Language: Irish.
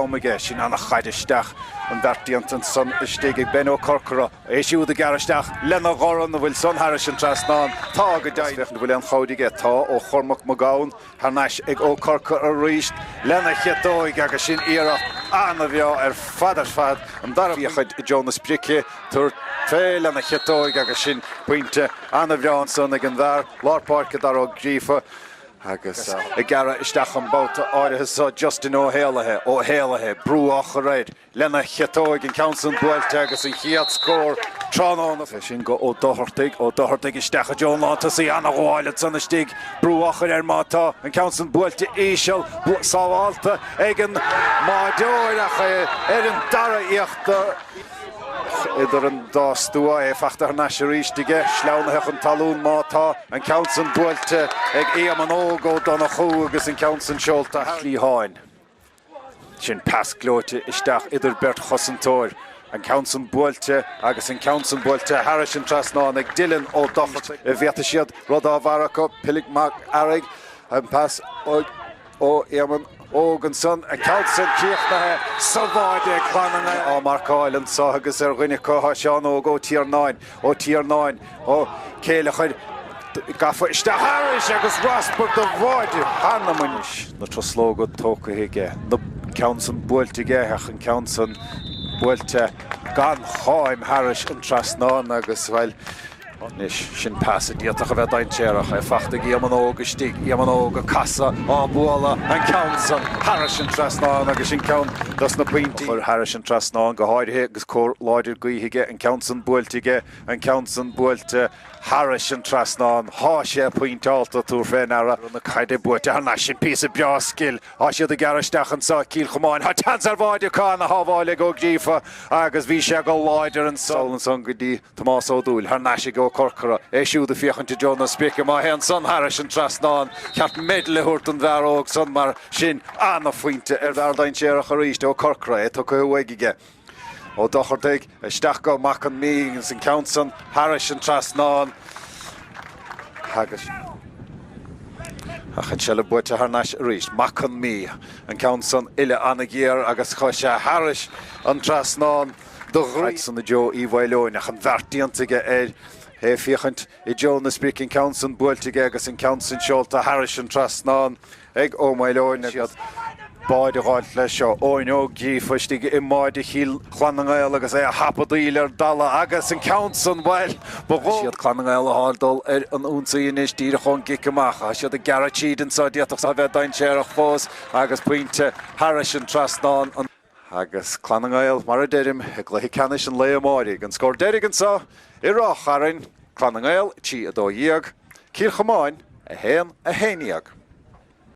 Omega, sin an chaid isteach. An beart déanta ansan istigh ag Ben Ó Corcora. É siúd ag gearradh isteach lena dhorn, an bhfuil san thairis an trasnán. Tá go deimhin. Is féach an bhfuil an chaid aige. Tá ó Chormac Mac Gabhann thar n-ais ag Ó Corcora arís lena chiotóig agus sin iarracht an-bhreá ar fad ar fad. An dara buíochas le Jonas Brice tabhairt fé lena chiotóig agus sin pointe an-bhreá ansan ag an bhfear lár páirce, Darragh Ó Gríofa. agus ag gearradh isteach an babhta áirithe seo Justin Ó hÉallaithe, Ó hÉallaithe, brú á chur air lena chiotóig an ceann san buailte agus an chéad scór tráthnóna. Sin go Ó Dochartaigh, Ó Dochartaigh isteach i dtreo an lántosaí ana-ghabháil ansan istigh, brú á chur air má tá an ceann san buailte íseal, sábháilte ag an mbáideoir ach é ar an dara iarracht. idir an dá stua, é fachta thar n-ais arís aige, sleamhnaithe chun talún má tá, an ceann san buailte ag Éamonn Óg Ó Donnchú agus an ceann san seolta thar an chliatháin. Sin pas gleoite isteach idir beirt chosantóir, an ceann san buailte agus an ceann san buailte thairis an trasnán ag Dylan Ó Dochartaigh. An bhfaighidh siad rud dá bharr acu, Pilib Mag Fhearaigh, an pas. ó Éamonn Óg ansan, an ceann san críochnaithe sa bháide ag Clann na nGael. Á marcáil anso agus ar dhuine acu tá Seán Óg Ó Tiarnáin, Ó Tiarnáin, Ó Céilleachair gafa isteach thairis agus raspar de bháide cheana. Anois na truslóga tógtha aige, an ceann san buailte aige ach an ceann san buailte gan cháim thairis an trasnán agus, bhuel, Anois, sin pas a d'fhéadfadh a bheith dainséarach, é fachta ag Éamonn Óg istigh, Éamonn Óg ag casadh, á bualadh, an ceann san, thairis an trasnán agus sin ceann dos na pointí, a chur thairis an trasnán go háirithe agus cóir láidir gaoithe aige, an ceann san buailte aige, an ceann san buailte thairis an trasnán, tá sé pointeáilte, tabhair fé ndeara, na caide buaite thar n-ais, sin píosa breá scil, tá siad ag gearradh isteach anso, Cill Chomáin, tá seans ar bháide acu ana-shábháil ag Ó Gríofa agus bhí sé go láidir anso, saol ansan go dtí Tomás Ó Dúill thar n-ais ag Ó Corcora, é siúd ag féachaint i dtreo na spéice. Má théann san thairis an trasnán, ba cheart medal a thabhairt don bhfear óg san mar sin. Ana-phointe ón bhfear dainséarach arís, Ó Corcora, é tugtha uaidh aige. Ó Dochartaigh isteach go Mac an Mhí agus an ceann san thairis an trasnán agus an seilbh buaite thar n-ais arís. Mac an Mhí, an ceann san uillinn ana-ghéar agus chuir sé thairis an trasnán. do dhroim san i dtreo Uí Mhaoileoin, ach an bheart déanta aige air, é féachaint i dtreo na sprice, an ceann san buailte aige agus an ceann san seolta thairis an trasnán ag Ó Maoileoin, agus siad báid ag gabháilt leis seo, Eoin Ó Gríofa istigh i mbáide Chill Chlann na nGael agus é a thapadh d'aoil ar dalladh, agus an ceann san, bhail, ba dhó' siad Clann na nGael a fháil dul ar an ionsaí anois, díreach ón gcic amach. Tá siad ag gearradh tríd anso, d'fhéadfadh san a bheith dainséarach fós, agus pointe thairis an trasnán, an. agus Clann na nGael, mar a deirim, i gcluiche ceannais an lae amáirigh. An scór deiridh anseo i Ráth Chairn, Clann na nGael 3, 12, Cill Chomáin 1, 11.